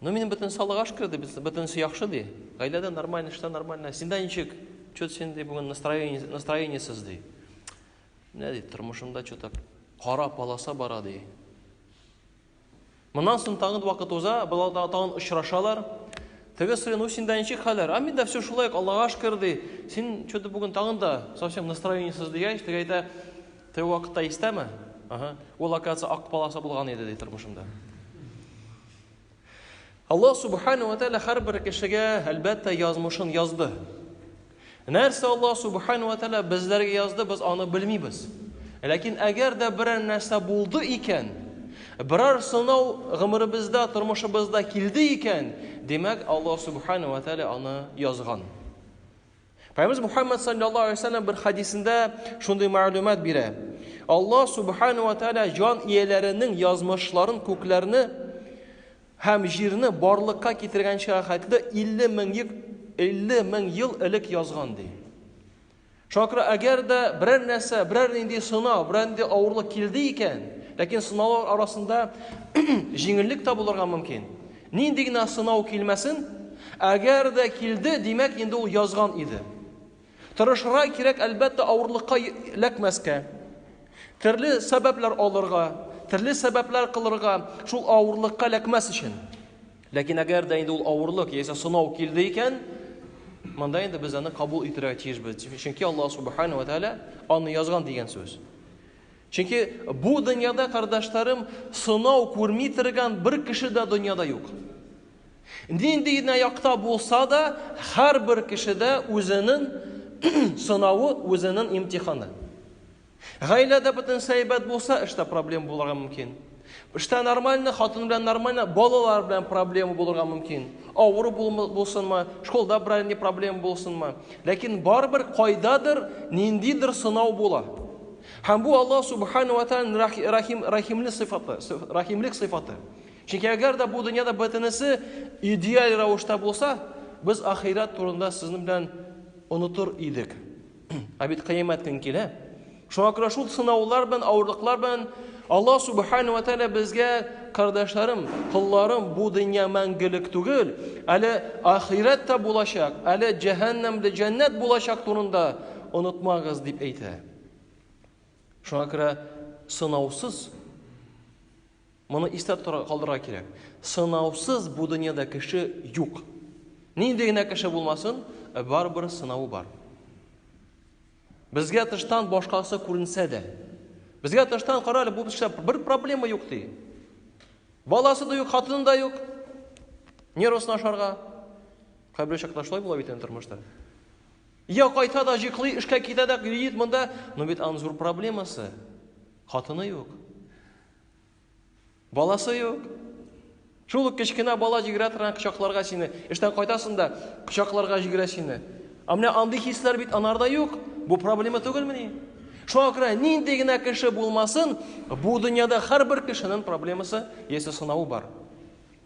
Ну минем бөтен салык аш керде, бөтенесе яхшы ди. Гаиләдә нормально, эштә нормально. Синдә ничек? Чөт син ди бүген настроение, настроениесез ди. Менә ди тормышымда чөт кара полоса бара ди. Моннан соң тагын вакыт уза, болар да тагын очрашалар. Теге сорый, ну синдә ничек хәлләр? А миндә все шулай, Аллага шөкер ди. Син чөт бүген тагын да совсем настроениесез дигәч, теге әйтә, теге вакытта истәме? Ага. Ул оказывается ак полоса булган иде ди тормышымда. Аллаһ Субхану ва Тәала һәрбер кешегә, әлбәттә, язмышын язды. Нәрсә Аллаһ Субхану ва Тәала безләргә язды, без аны белмибез. Ләкин әгәр дә берәр нәрсә булды икән, берәр сынау гомеребездә, тормышыбызда килде икән, димәк, Аллаһ Субхану ва Тәала аны язган. Пәйгамбәрбез Мухаммад саллаллаһу алейһи ва саллям бер хадисендә шундый мәгълүмат бирә. Алла субхану ва тааля җан ияләренең язмышларын күкләрне һәм җирне барлыкка китергәнчә хәтле 50 мең ел 50 мең ел элек язган ди. Шакра әгәр дә берәр нәрсә, берәр нинди сынау, берәр нинди авырлык килде икән, ләкин сынаулар арасында җиңеллек тә булырга мөмкин. Нинди генә сынау килмәсен, әгәр дә килде, димәк, инде ул язган иде. Тырышырга кирәк, әлбәттә, авырлыкка эләкмәскә. Төрле сәбәпләр алырга, төрле сәбәпләр кылырга, шул авырлыкка эләкмәс өчен. Ләкин әгәр дә инде ул авырлык яисә сынау килде икән, монда инде без аны кабул итәргә тиешбез. Чөнки Аллаһ субхана ва тәгалә аны язган дигән сүз. Чөнки бу дөньяда, кордашларым, сынау күрми торган бер кеше дә дөньяда юк. Нинди генә якта булса да, һәрбер кешедә үзенең сынавы, үзенең имтиханы. Гаиләдә бөтенесе әйбәт булса, эштә проблема булырга мөмкин. Эштә нормально, хатын белән нормально, балалар белән проблема булырга мөмкин. Авыру булсынмы, школда берәр ни проблема булсынмы. Ләкин барыбер кайдадыр ниндидер сынау була. Һәм бу Аллаһ Субхану ва Тааляның рахим, рахимле сыйфаты, рахимлек сыйфаты. Чөнки әгәр дә бу дөньяда бөтенесе идеаль рәвештә булса, без ахирәт турында сезнең белән онытыр идек. Ә бит кыямәт көн килә. Шуңа күрә шул сынаулар белән, авырлыклар белән Аллаһ Субхану ва Тааля безгә, кардәшләрем, кулларым, бу дөнья мәңгелек түгел, әле ахирәт тә булачак, әле җәһәннәмдә җәннәт булачак турында онытмагыз дип әйтә. Шуңа күрә сынаусыз моны истә калдырырга кирәк. Сынаусыз бу дөньяда кеше юк. Нинди генә кеше булмасын, ә барыбер сынавы бар. Безгә тыштан башкасы күренсә дә, безгә тыштан карале бу эштә бер проблема юк ди. Баласы да юк, хатыны да юк. Нервысына ашарга. Кайбер чакта шулай була бит тормышта. Я кайта да җыклый, эшкә китә дә йөри монда. Ну бит аның зур проблемасы. Хатыны юк. Баласы юк. Шул ук кечкенә бала җигрә торган кочакларга сине. Эштән кайтасың да кочакларга җигрә сине. Ә менә андый хисләр бит анарда юк. Бу проблема түгелмени? Шуңа күрә нинди генә кеше булмасын, бу дөньяда һәрбер кешенең проблемасы яисә сынавы бар.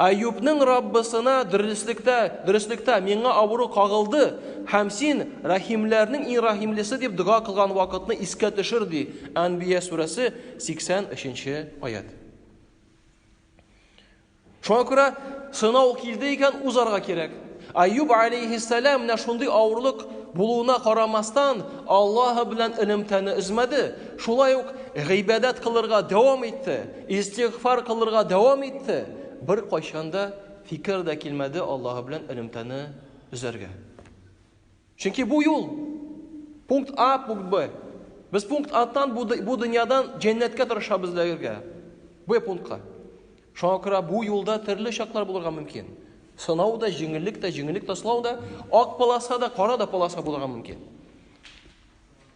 Әюпнең Раббысына дөреслектә, дөреслектә, Миңа авыру кагылды, һәм Син, рәхимләрнең иң рәхимлесе, дип дога кылган вакытны искә төшер, ди Әнбия сүрәсе 83 нче аять. Шуңа күрә сынау килде икән, узарга кирәк. Әюб алейхиссәлам менә шундый авырлык булуына карамастан, Аллаһы белән элемтәне өзмәде, шулай ук гыйбадәт кылырга дәвам итте. Истигъфар кылырга дәвам итте. Беркайчан да фикер дә килмәде Аллаһы белән элемтәне өзәргә. Чөнки бу юл пункт А, пункт Б. Без пункт Аттан бу, бу дөньядан җәннәткә тырышабыз эләгергә. Б пунктка. Шуңа күрә бу юлда төрле чаклар булырга мөмкин. Сынау да, җиңеллек тә, җиңеллек тә, сынау да, ак полоса да, кара да полоса булырга мөмкин.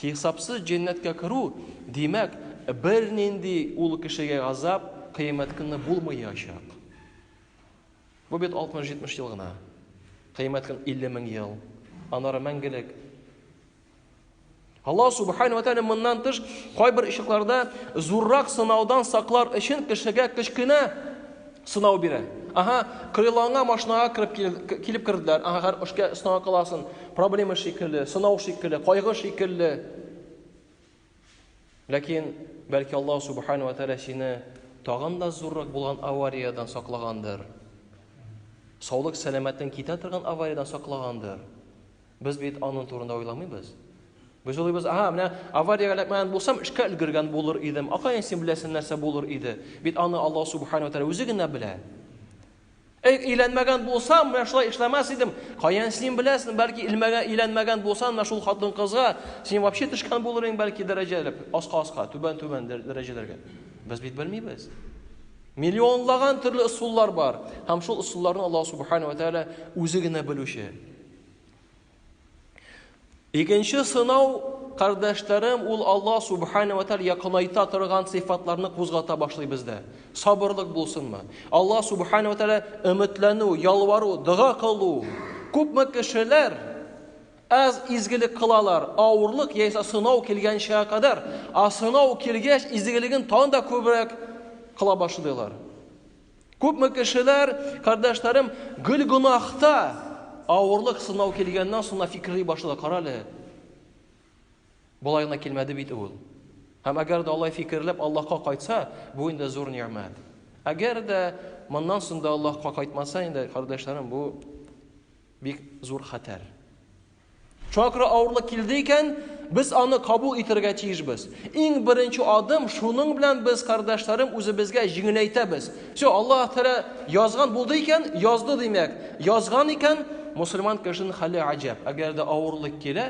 Хисапсыз җәннәткә керү, димәк, бернинди ул кешегә газап Кыямәт көнне булмаячак. Бу бит 60-70 ел гына. Кыямәт көн 50 мең ел, аннары мәңгелек. Аллаһ субхану ва тааля моннан тыш кайбер очракларда зуррак сынаудан саклар өчен кешегә кечкенә Сынау бирә. Ага, крылоңа машинага кереп килеп, килеп керделәр. Ага, хәр эшкә сынау кыласын. Проблема шикелле, сынау шикелле, кайгы шикелле. Ләкин бәлки Аллаһ субхану ва тааля сине тагын да зуррак булган авариядән саклагандыр. Саулык сәламәтен китә торган авариядән саклагандыр. Без бит аның турында уйламыйбыз. Без уйлыйбыз, ага, менә авариягә эләкмәгән булсам, эшкә өлгергән булыр идем. Акаен син беләсең нәрсә булыр иде. Бит аны Аллаһ субхана ва үзе генә белә. Әй, өйләнмәгән булсам, менә шулай эшләмәс идем. Каян син беләсең, бәлки илмәгән, өйләнмәгән булсаң, менә шул хатын кызга син вообще төшкән булыр идең, бәлки дәрәҗәләп, аска-аска, түбән-түбән дәрәҗәләргә. Без бит белмибез. Миллионлаган төрле ысуллар бар. Һәм шул ысулларны Аллаһ субхана ва тәгалә үзе генә белүче. Икенче сынау, кардәшләрем, ул Алла Субхана ва Тәгалә якынайта торган сыйфатларны кузгата башлый бездә. Сабырлык булсынмы? Алла Субхана ва Тәгалә өметләнү, ялвару, дога кылу. Күпме кешеләр аз изгелек кылалар, авырлык яисә сынау килгәнчә кадәр, а сынау килгәч, изгелеген тагын да күбрәк кыла башлыйлар. Күпме кешеләр, кардәшләрем, гөл гонахта авырлык сынау килгәннән соң фикерли башлады, карале. Болай гына килмәде бит ул. Һәм әгәр дә алай фикерләп Аллаһка кайтса, бу инде зур ни'мәт. Әгәр дә моннан соң да Аллаһка кайтмаса инде, кардәшләрем, бу бик зур хәтәр. Чакра авырлык килде икән, без аны кабул итәргә тиешбез. Иң беренче адым шуның белән без, кардәшләрем, үзебезгә җиңеләйтәбез. Все, Аллаһ Тәгалә язган булды икән, язды димәк. Язган икән, мусульман кешенең хәле гаҗәп. Әгәр дә авырлык килә,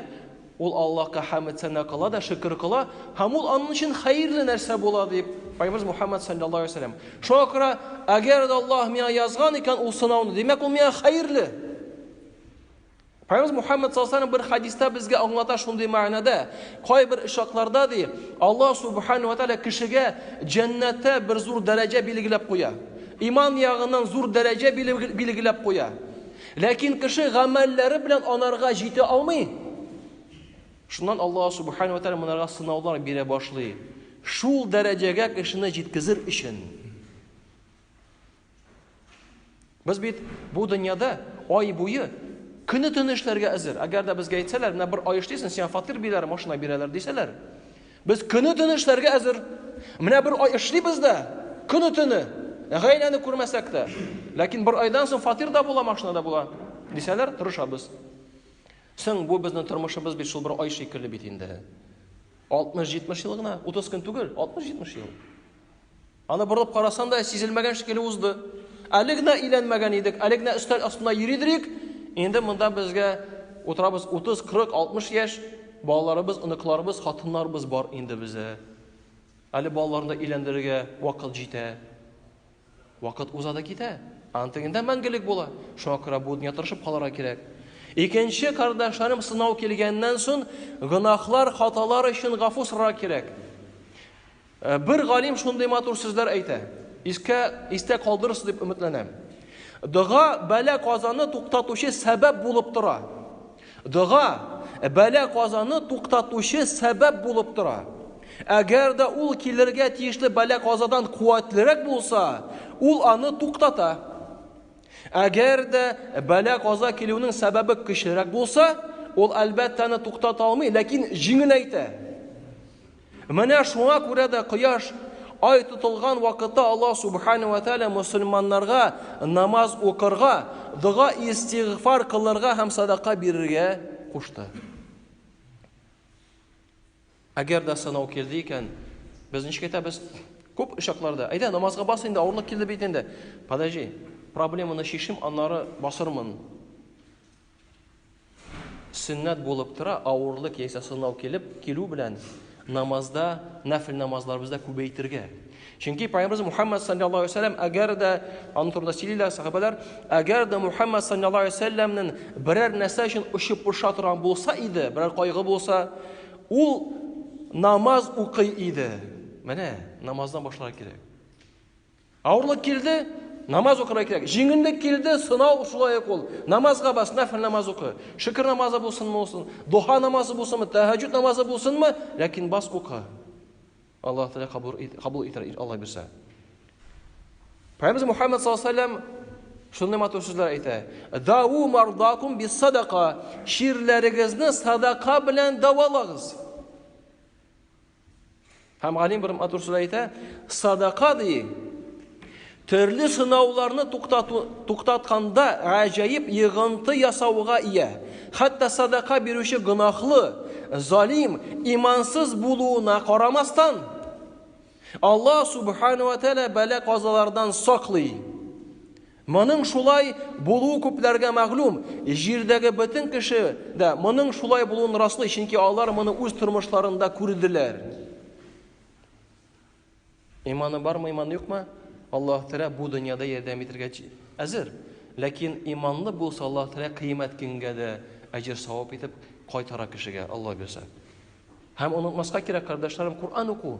ул Аллаһка хәмд сәна кыла да шөкер кыла, һәм ул аның өчен хәерле нәрсә була, дип Пайгамбарыбыз Мухаммад саллаллаһу алейһи ва саллям. Шуңа күрә, әгәр дә Аллаһ миңа язган икән ул сынауны, димәк, ул миңа хәерле. Пәйгамбәрбез Мухаммад саллаллаһу бер хадиста безгә аңлата шундый мәгънәдә, кайбер очракларда ди, Алла субхану ва тааля кешегә җәннәттә бер зур дәрәҗә билгеләп куя. Иман ягыннан зур дәрәҗә билгеләп куя. Ләкин кеше гамәлләре белән анарга җитә алмый. Шуннан Алла субхану ва тааля монарга сынаулар бирә башлый. Шул дәрәҗәгә кешене җиткезер өчен. Без бит бу дөньяда ай буе көне төне эшләргә әзер. Әгәр дә безгә әйтсәләр, менә бер ай эшлисең, сиңа фатир бирәләр, машина бирәләр дисәләр. Без көне төне эшләргә әзер. Менә бер ай эшлибез дә, көне төне гаиләне күрмәсәк тә. Ләкин бер айдан соң фатир да була, машина да була дисәләр, тырышабыз. Соң бу безнең тормышыбыз бит шул бер ай шикелле бит инде. 60-70 ел гына, 30 көн түгел, 60-70 ел. Аны борылып карасаң да, сизелмәгән шикелле узды. Әле генә өйләнмәгән идек, әле генә өстәл астында йөридерик, инде монда безгә утырабыз 30, 40, 60 яшь, балаларыбыз, оныкларыбыз, хатыннарыбыз бар инде бездә. Әле балаларны да өйләндерергә вакыт җитә. Вакыт уза да китә. Антыгында мәңгелек була. Шуңа күрә бу дөнья тырышып калырга кирәк. Икенче кардәшләрем сынау килгәннән соң, гөнаһлар, хаталар өчен гафу сорарга кирәк. Ә бер галим шундый матур сүзләр әйтә. Искә, истә калдырырсыз дип өметләнәм. Дога бәла казаны туктатучы сәбәп булып тора. Дога бәла казаны туктатучы сәбәп булып тора. Әгәр дә ул килергә тиешле бәла казадан куәтлерәк булса, ул аны туктата. Әгәр дә бәла каза килүнең сәбәбе көчлерәк булса, ул әлбәттә аны туктата алмый, ләкин җиңеләйтә. Менә шуңа күрә дә кояш, ай тотылган вакытта Аллаһ Субхана ва Тәгалә мөселманнарга намаз укырга, дога-истигъфар кылырга һәм садака бирергә кушты. Әгәр дә сынау килде икән, без ничек әйтәбез? Күп очакларда, әйдә, намазга бас инде, авырлык килде бит инде. Подожди, проблеманы чишим, аннары басырмын. Сөннәт булып тора, авырлык яисә сынау килеп килү белән намазда, нәфл намазларыбызда күбәйтергә. Чөнки пайгамбарыбыз Мухаммад саллаллаһу алейһи вәсәлләм әгәр дә аның турында сөйлиләр сахабәләр, әгәр дә Мухаммад саллаллаһу алейһи вәсәлләмнен берәр нәрсә өчен очып поша торган булса иде, берәр кайгы булса, ул намаз укый иде. Менә намаздан башлар кирәк. Авырлык килде, намаз укырга кирәк. Җиңеллек килде, сынау шулай ук ул. Намазга бас, нәфл намаз укы. Шөкер намазы булсынмы булсын, духа намазы булсынмы, тәһәҗҗүд намазы булсынмы, ләкин бас укы. Аллаһ Тәгалә кабул кабул итәр Аллаһ бирсә. Пәйгамбер Мухаммад саллаллаһу алейһи вәсәлләм шундый матур сүзләр әйтә. Дау мардакум бис садака. Ширләрегезне садака белән давалагыз. Һәм галим бер матур сүз әйтә, садака ди. Төрле сынауларны туктату туктатканда гаҗәеп йыгынты ясауга ия. Хәтта садака бирүче гынахлы, залим, имансыз булуына карамастан, Аллаһ субхану ва тәала бәла казалардан саклый. Моның шулай булуы күпләргә мәгълүм. Җирдәге бөтен кеше дә моның шулай булуын раслый, чөнки алар моны үз тормышларында күрделәр. Иманы бармы, иманы юкмы? Аллаһ Тәгалә бу дөньяда ярдәм итәргә әзер. Ләкин иманлы булса, Аллаһ Тәгалә кыямәт көнгә дә әҗер савап итеп кайтара кешегә, Алла бирсә. Һәм онытмаска кирәк, кардәшләрем, Коръән уку.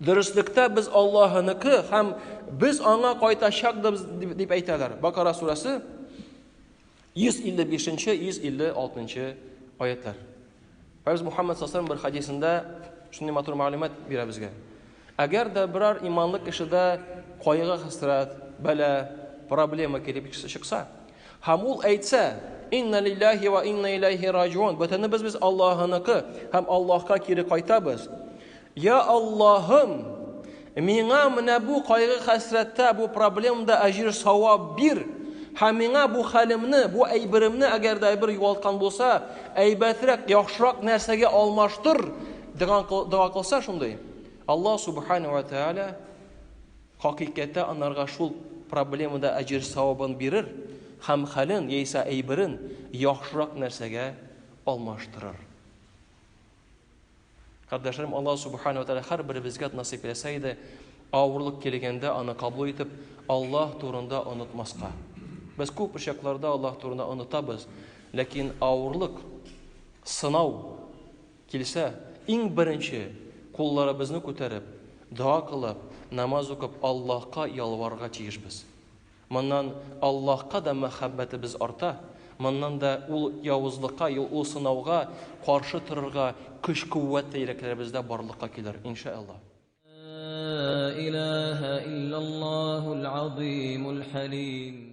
Дөреслектә без Аллаһыныкы һәм без аңа кайтачакбыз дип әйтәләр. Бакара сурәсе 155-156 аятлар. Фәрз Мухаммад саллаллаху бер хадисында шундый матур мәгълүмат бирә безгә. Әгәр дә берәр иманлы кешедә кайгы-хәсрәт, бәла, проблема килеп чыкса, Һәм ул әйтсә, Инна лиллаһи вә инна иләйһи раҗиун, бөтенебез без Аллаһыныкы һәм Аллаһка кире кайтабыз. Я Аллаһым, миңа менә бу кайгы-хәсрәттә, бу проблемда әҗер-савап бир, һәм миңа бу хәлемне, бу әйберемне, әгәр дә әйбер югалткан булса, әйбәтрәк, яхшырак нәрсәгә алмаштыр, дигән дога кылса шундый, Аллаһ субхана вә тәгалә Хакыйкәттә анарга шул проблема да әҗер-савабын бирер һәм хәлен яисә әйберен яхшырак нәрсәгә алмаштырыр. Кардәшләрем, Аллаһ Субхана ва Тәгалә һәрберебезгә насыйп эйләсә иде, авырлык килгәндә аны кабул итеп, Аллаһ турында онытмаска. Без күп очакларда Аллаһ турында онытабыз, ләкин авырлык, сынау Килсә, иң беренче, кулларыбызны күтәреп, дога кылып, намаз укып Аллаһка ялварырга тиешбез. Моннан Аллаһка да мәхәббәтебез арта, моннан да ул явызлыкка, ул сынауга каршы торырга көч-куәт тә йөрәкләребездә барлыкка килер, иншәәллаһ. Ла илаһә илләллаһул азыймул хәлим.